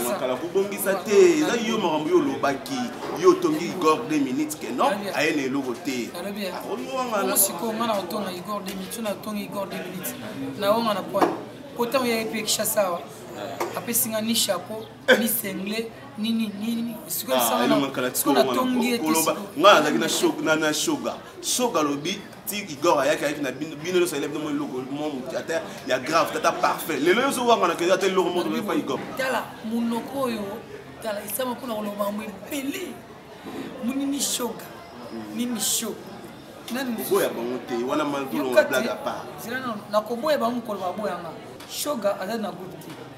makala kobongisa te eza yo makambo yo olobaki yo otongi igor 2 minutes ke non aye na eloko te sikoyo nga na kotonga igor 2 minutes na kotonga igor 2 minutes na onga na pwana kotango yaki mpe kishasa awa apesi nga ni chapeau ni sengle nini nini sikoyo ah, sikoyo natongi ete nga nazalaki na shoga shoga alobi ti igor ayaki ayaki na bino bino nyonso ayelaki bino eloko moko ata ya grave tata parfait lelo nyonso owangana ke ata eloko moko tokoki pa igor tala monoko oyo tala esama mpona koloba yango ebele monini shoga nini sho koboya bango te wana maltolonga blague apart nakoboya bango mokolo baboyanga shoga aza na groupe te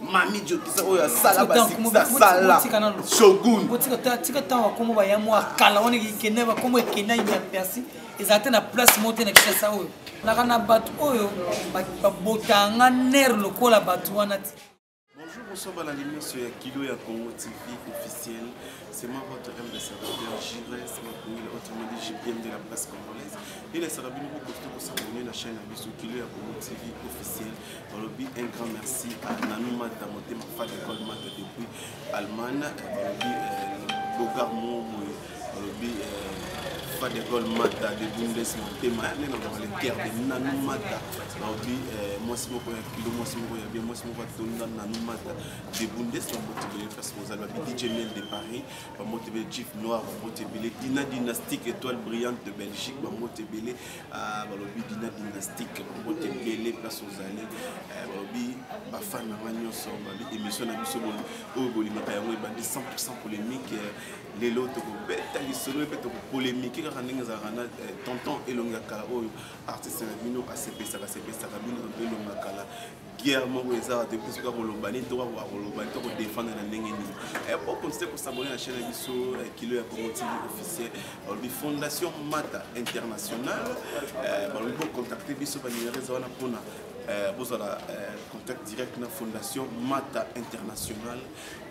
mami jokisa oyo asala basala shogun tika ntango bakombo baya mwa kala wana ekende bakombo ekenda ya persi ezala te na place moko te na kisasa oyo naka na bato oyo babotanga nere lokola bato wana ti Bonjour, bonsoir, voilà l'émission ya Kilo ya Congo TV officiel. C'est moi votre M de Sarabia, Gires, Makoui, la haute mélodie JPM de la presse congolaise. Et la Sarabia, nous vous conseillons de s'abonner à la chaîne Abisso Kilo ya Congo TV officiel. balobi un grand merci à nanou mata motema fat ecole mata depuis allemagne balobi euh, bogar mo boye balobi euh, fat ecole mata de bundes motema nde naloba le cœur de nanou mata balobi euh, mwasi moko ya kilo mwasi moko ya bien mwasi moko atonda nanou mata de bundes bambote bele parce que ozali babi dj miel de paris bambote bele jif noir bambote bele dina dynastique étoile brillante de belgique bambote bele Ah, balobi dina dynastique bobote ebele place ozali eh, balobi bafane na nga nyonso balobi émission na biso oyo bolimaka yango ebandi 100 polémique eh, lelo tokobeta lisolo mpe tokopolémike kaka ndenge ezalaka na eh, tonton elongi ya kala oyo artiste na bino asepesaka sepesaka bino mpe elongi ya kala guerre moko eza te mpe soki akoloba nini to akoloba nini to kodefendre na ndenge nini eh, okontinue kosabone na chaîne ya biso eh, kilo ya congo tv officiel balobi fondation mata international eh, balobi bocontacte biso banimero eza wana mpona bozala contact direct na fondation mata international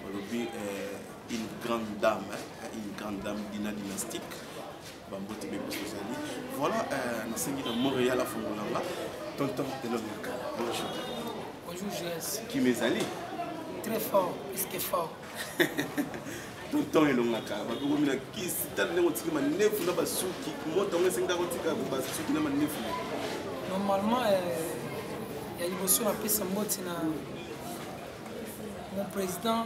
balobi une grande dame une grande dame dina dynastique bambote be biso ezali voilà euh, nasengi na montréal afongola nga tonton elongi ya kala bonjour bonjour gs kim ezali très fort eske fort tonton elongaka bakokomi na kisi tala ndenge otiki manefu na basuki moto yango esengi kaka otika basuki na manefu normalement euh, ya liboso napesa mboti na mon président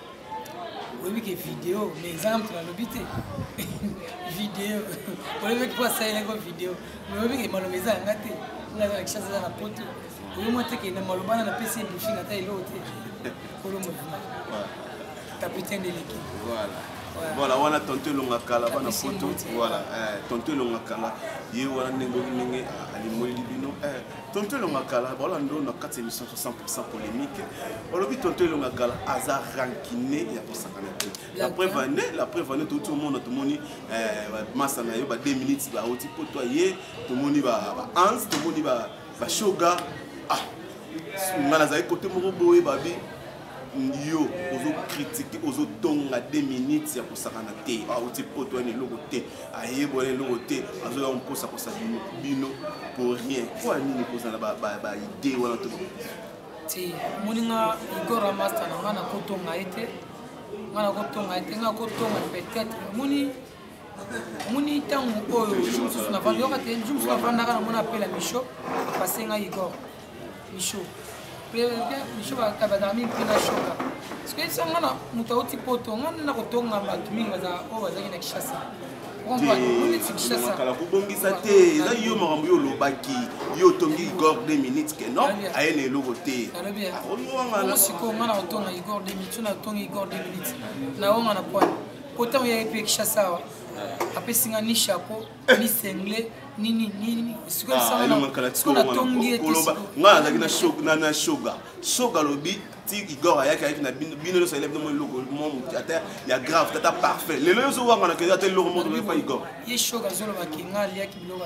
oyebi ke video me ezanga moto nalobi te video oyebi mpo asalelaki video me oyebi ke maloba eza yanga te nga aza na kishasa eza na poto oyo mwa te ke na maloba na napesi ye briefing ata eloko te kolo movima capitaine de l'équipe voilà voilà wana tonto elonga kala bana poto voilà eh, tonto elonga kala ye wana ndenge ndenge alimweli bino eh, tonto elonga kala baolando na kati ya émission 100 polémique olobi tonto elonga kala aza rankine ya kosakana te la preuve ane la preuve ane touti omona tomoni eh, masa na yo ba 2 minutes bauti mpo to ye tomoni ba ans tomoni ba shoga ah nga nazali kote moko boye babi yo ozo critique ozo tonga 2 minutes ya kosakana te auti ah, poto wana eloko te ayeba wana eloko te azoya mposa kosa bino bino pour rien mpo ya nini kozala baide wana to te omoni nga igora master na nga nakotonga ye te nga nakotonga ye te nga kotonga peut-être omoni moni ntango oyo ju mosusu navanda yoka te ju mosusu navandaka na mona apela misho basenga igor misho misho bazalaka mingi mpe na shoka parceke so nga na moto auti poto nga nde nakotonga bato mingi oyo bazalaki na kishasa makala kobongisa te eza yo makambo yo olobaki yo otongi igor 2 minutes ke non aye na eloko te sikoyo nga na kotonga igor 2 minutes yo natongi igor 2 minutes naonga na poine kota oyo yayebi ekishasa awa apesi nga ni chapeau ni sengle nini nini sikoyosiko natongi ete nga nazalaki na shoga shoga alobi ti igor ayaki ayaki na bino bino nyonso ayela bino mwa eloko mwa motu ata ya grave tata parfait lelo nyonso owangana keza ata eloko moko tokoki pa igor ye shoga azolobaki nga aliaki biloko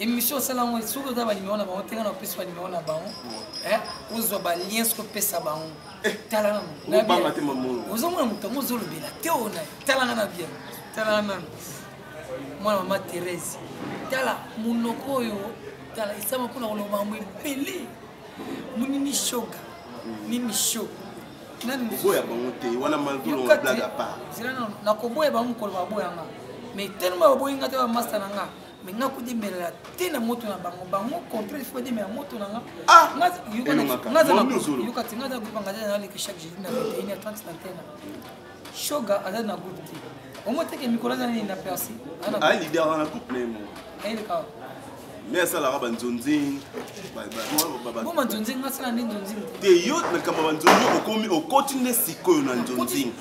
émission osala yango soki oza banimero na bango tenga na opesi banimero na bango ozwa balien soki opesa bango eh, tala naozomona moto yango ozolobela te ona talanga na bien talanga nano mwana mama therese tala monoko oyo tala esama mpona koloba yango ebele monini shoga nini sho boya bango te wana malgulonga blague apart nakoboya bango mokolo baboyanga mais telema baboyi nga te bamasta na nga mais nga kodemelela te na moto na bango bango contre il faut demela moto na nga ah! yokati nga aza groupe angazali naleki chaque jeudi na 21 ya 30 na tena shoga aza na groupe te omoteke mikolo aza nini na persi alide aza na groupe nemo ayeleka me asalaka banzonzing boma nzonzing asala nde nzonzing te yo makambo ya banzonzing okomi okoti nde sikoyo na nzonzing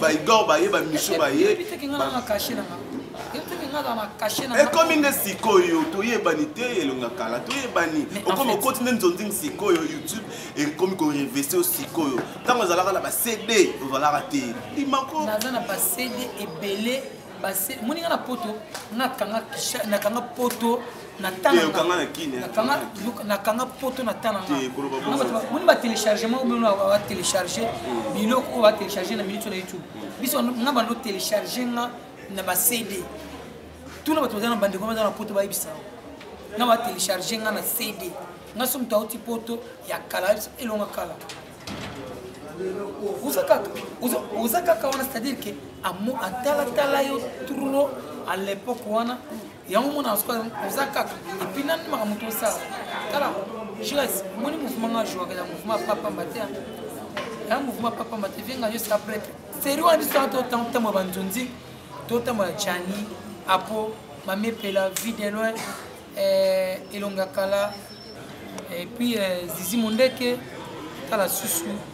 baigor baye bamisu baye ekomi nde sikoyo toyebani te elonga kala toyebani okomi okoti nde nzonzing sikoyo youtube ekomi korevese sikoyo ntango ozalaka na bacd ozalaka te imakonaza na bacd ebele moni nga na poto nakanga poto nakanga poto na tana moni batelechargement bino batelecharge hmm. biloko oyo batelecharge na minute na youtube hmm. biso nga bando telecharge nga na bacd tuna bato baza na bandeko baza na poto bayebisa nga batelecharge nga na cd nga so moto auti poto ya kala elonga kala oza kaka oza kaka wana c'est à dire ke atalatala yo trop à l'époque wana yango omona soka oza kaka epuis nani makambo tosala tala jures omoni mouvement nga jouaka ya mouvement ya papamba te ya mouvement ya papamba te vienga yo sa prêtre seri wana biso totambola banzonzi totambola jani apo mamepela vie de loin eh, elonga kala epuis eh, zizi mondeke tala susu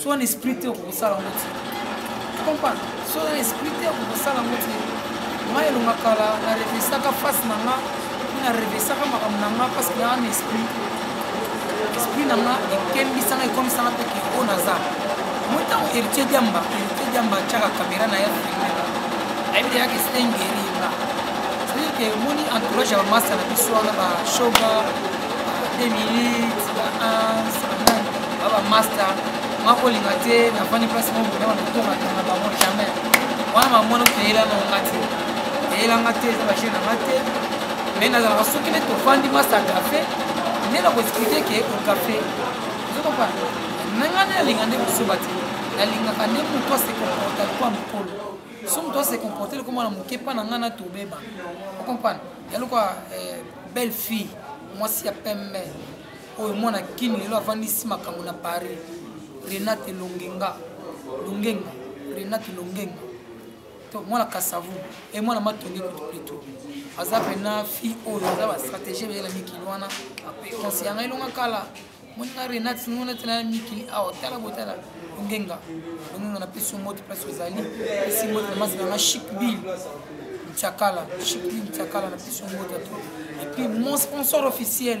soit na esprit te okosala yango te comprendre soit na esprit te okosala yango te nga elonga kala na revesaka face na nga mpe na revesaka makambo na nga parce que naa na esprit esprit na nga ekembisanga ekomisanga mpe ke oyo naza moi ntango héritier diamba héritier diamba atyaka kamera na ye filmela ayebi deja ke stengeri nga c'est-à-dire ke moni entourage ya bamasta na biso wana bashoga 2 minutes ba 1 baba master makolinga te nafandi place moko boye naba natongaka na bango jamais wana mamona kutu eyela nango nga te eyela nga te eza bashene na nga te mai nazalaka soki nde tofandi masa kafe nde nakoexplike ke okafe ozokopa nanga nde nalinga nde kosoba te nalingaka nde moto asekomporta lokola mokolo so moto asekomporte lokola mwana moke mpa na ngai na tobeba okomprane ya lokola eh, belle fille mwasi ya pembe oyo mwana kini lelo avandisi makambo na paris renate longenga longenga renate longenga to mwana kasavu e mwana matonge kutu plito aza mpena fille oyo aza bastratégie beyela mikili wana konse yanga elonga kala moninga renate ngona tena mikili awa tala botala longenga longenga napesi yo moti place ozali pesi moti na masi nanga chic bill mtiakala chic bill mtiakala napesi yo moti ato epuis mon sponsor officiel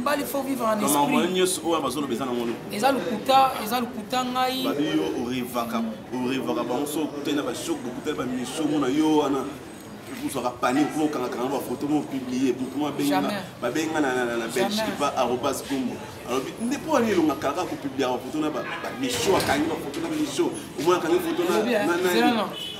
mbali faut vivre en esprit nyonso oyo bazoloba eza nango eza lokuta eza lokuta ngai babi yo orevaka orevaka bango so okutani na bashok bokutani bamisomo na yo wana ozwaka panique mpo okangakanga bafoto mo publie motu mo babenga na belgique pa arobas gombo alobi nde mpo wani elonga kaka kopubliaka bafoto na bamisio akangi bafoto na misio omona akangi foto na nani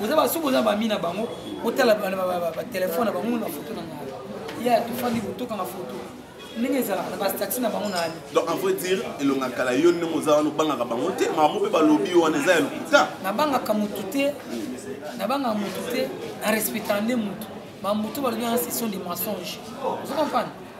boza basusu boza bami na bango botala batelefone na bango na foto na ngai ya tofandi botokanga foto ndenge ezalaka na bastati na bango nani donc en vrai dire elonga kala yo ndenge oza wana obangaka bango te mamo mpe balobi yo wana eza ya lokuta nabangaka motu te nabangaka motu te na respectaka nde motu bamotu balobi wana session de mensonge ozo comprendre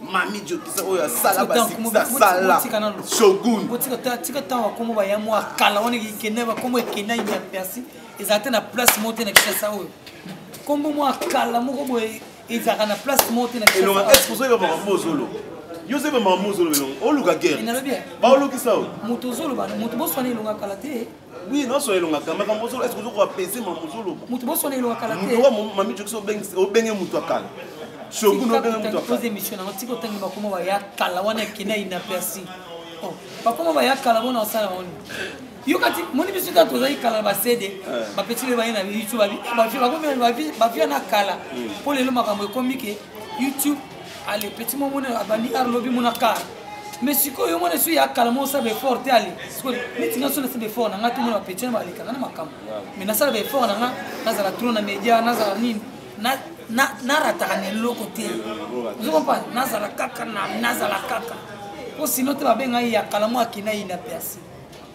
mami jokisa oyo asala basala shogun tika ntango bakombo baya mwa kala wana ekenda bakombo ekenda ya persi ezala te na place moko te na kisasa oyo kombo mwa kala moko boye ezalaka na place moko te na kisasaaozolo yo se bamamozolo oluka guerre baolukisa oyo moto ozoloba moto boswana elonga kala te oui naosona elonga kala makambo ozolo eske ozokoka pese mama ozoloba moto bosona elonga kala te mami jokisi obenge moto ya kala shogunobengemotoaoza émission nango tika otangi bakoma baya kala wana ekenda inaperci oh, bakoma baya kala bona osala oni yo kati moni biso ta tozali kala na basede eh. bapeti lelo baye na youtube bafi na kala mpo hmm. lelo makambo ekomi ke youtube ale petit mwa mona abandi ar lobi mona kar mais sikoyo yo mona esu ya kala mo osala baeffort te ale sikoyo neti nga so nasala baeffort na nga te mona bapeti na balekanga na makambo mais nasala baeffort na nga nazala tro na média nazala nini narataka na eloko te ozo comprendre nazala kaka nazala kaka mpo sino te babengai ya kala mo akenda yina persi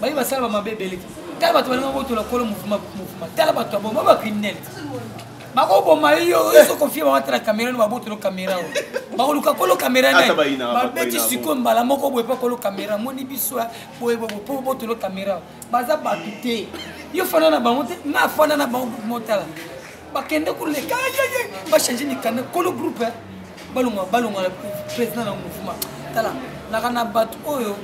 baye basala bamabe ebele tala bato balinga kotola kolo mofuma mofuma tala bato ya boma bacriminel bakoboma yo ezokofie bango atala kamera no babotolo kamera oyo bakoluka kolo kamera ne babeti sikoyo mbala moko boye mpo kolo kamera moni biso boye boye mpo botolo kamera baza bato te yo fanda na bango te nga afanda na bango motala bakende koleka ayeye bachange mikanda kolo groupe eh. balonga balonga président na mouvement tala naka na bato oyo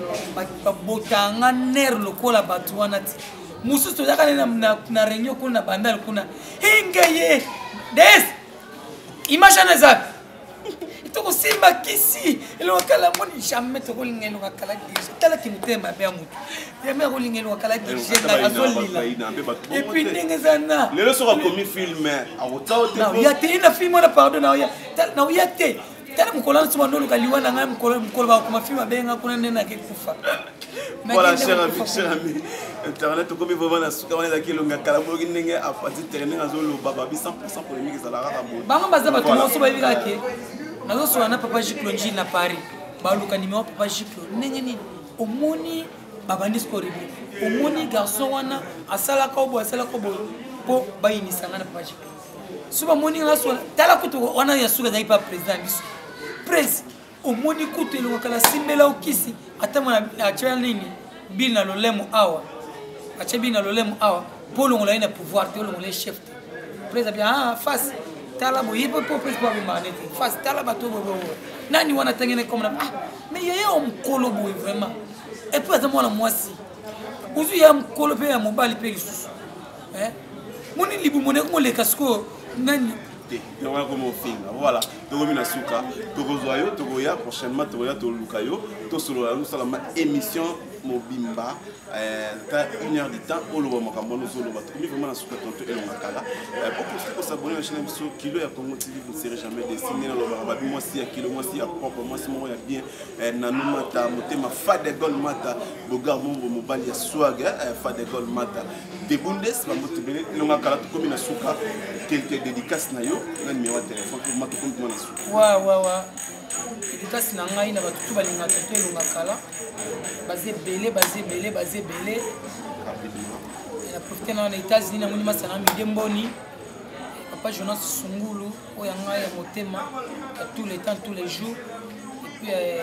babotanga ner lokola bato wana ti mosusu tozaka ne na réunion kuna na bandal kuna hingeye des image wana ezaka tokosimba kisi elonga kala moni jamais tokolinga elonga kala dirige tala kimotema mabe ya motu jamais akolinga elonga kala dirige ngai azolila epuis ndenge eza na lelo soki akomi filme akotaoya te na filme wana pardon naoya te tala mokolo wana soba ndoluka liwa na ngai mokolo bakoma filme abenga kuna nde nake kufa voilà cher ami cher ami internet okomi vraiment na suka wana ezalaki elonga kala boyoki ndenge apati tere ndenge azoloba babi 100 polémique ezalaka kaka boye bango baza bato nyonso bayebi kaka ke nazosola na papa jiclo njili na paris baluka nimero papa jiclo ndenge nini omoni babandi skoribli omoni garçon wana asalaka obo asalaka obo mpo bayinisa ngai na papa jiclo so bamoni ngai sola tala kutu wana ya suka ezalaki pa président biso prince omoni kutu elongaka na simbela okisi ata mwana atya nini bil na lolemo awa atya bil na lolemo awa mpo olongola ye na pouvoir te olongola ye chef te presa bia ah, face tala boye mpo mpo presa mpo abomaka ne te face tala bato bobobo nani wana atangi na komona ah mais yeye o mokolo boye vraiment epuis aza mwana mwasi ozwi ya mokolo mpe ya mobali mpe lisusu eh? moni libumu na yango moleka sikoyo nani te yango yakoma ofinga voilà tokomi na suka tokozwa yo tokoya prochainement tokoya toluka yo tosolola yango osalama émission mobimba eh, ata une heure du temps oloba makambo wana ozoloba tokomi vraiment na suka tonto elonga kala eh, pokosi kosabone na chaine ya biso kilo ya congo tv vous serez jamais desi nde nalobaka babi mwasi ya kilo mwasi ya propre mwasi moko ya bien eh, nanu mata motema fadegol mata bogar mongo mobali ya swag fadegol mata de bundes bango tobele elonga kala tokomi na suka quelque dédicace na yo na numéro ya téléphone mpo ma tokomi tuma na suka wa wa wa dédicace na ngai na bato tu balinga toto elonga kala baza ebele baza ebele baza ebele na profite na na états-unis namoni masana mide mboni papa jonas sungulu oyo ya ngai ya motema ya tout le temps tous les jours epuis euh,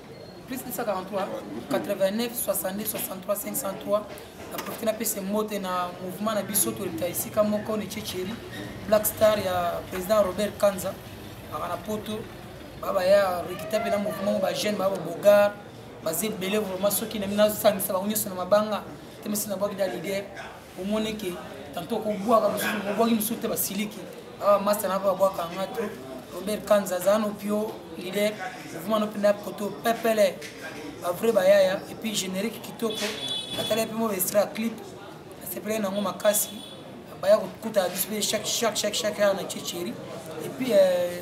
plus 243 89 62 63 503 na profite napesa mbote na mouvement na biso toleka esika moko ne checheri black star ya président robert kanza aka na poto babaya rekita mpe na mouvement ba jeune baba bogar baza ebele vraiment soki nami nasangisa bango nyonso na mabanga te mesi nabwaki da lider omoni ke tanto okobwaka mosusu bobwaki mosusu te basiliki awa masta na babwaka yanga to robert kanza aza no pio lider ovuma no mpenza koto pepele bavrai bayaya epuis générique kitoko natala mpe mo baestra clip nasepelaki nango makasi baya kokuta biso mpe chaque chaque chaque chaque heure na checheri epuis euh,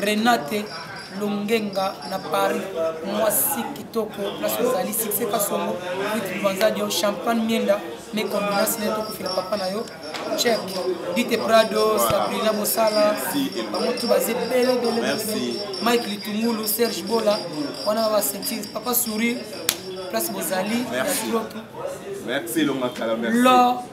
renate longenga na paris mwasi kitoko place ozali succès kasongo wit lubanza dio champagne mienda me combinance nde tokufela papa na yo chek dite prado sabrina mosala bango tu baza ebele ebele mike litungulu serge bola wana ba basentire papa sourire place bozali ya tulotu merci elonga kala merci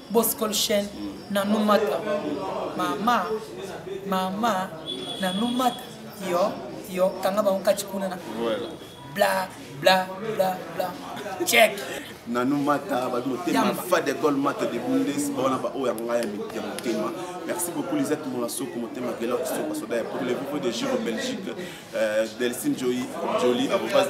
Boscol Chen, Nanou Mata. Mama, mama, Nanou Mata. Yo, yo, kanga bango kati kuna na. Voilà. Bla, bla, bla, bla. Check. Nanou Mata, ba motema fa de gol Mata de Bundes, ba wana ba oya ngaya mi ya motema. Merci beaucoup Lisette Molasoko motema gela ko soka soda ya pour le vivo de Giro Belgique, euh, Delcine Jolie, Jolie, à vos bases.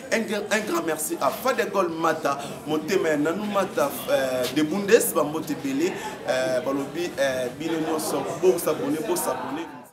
un grand merci à fadegol mata motema ya nanu mata euh, de bundes bambote ebele euh, balobi euh, bino nyonso bosabone bosabone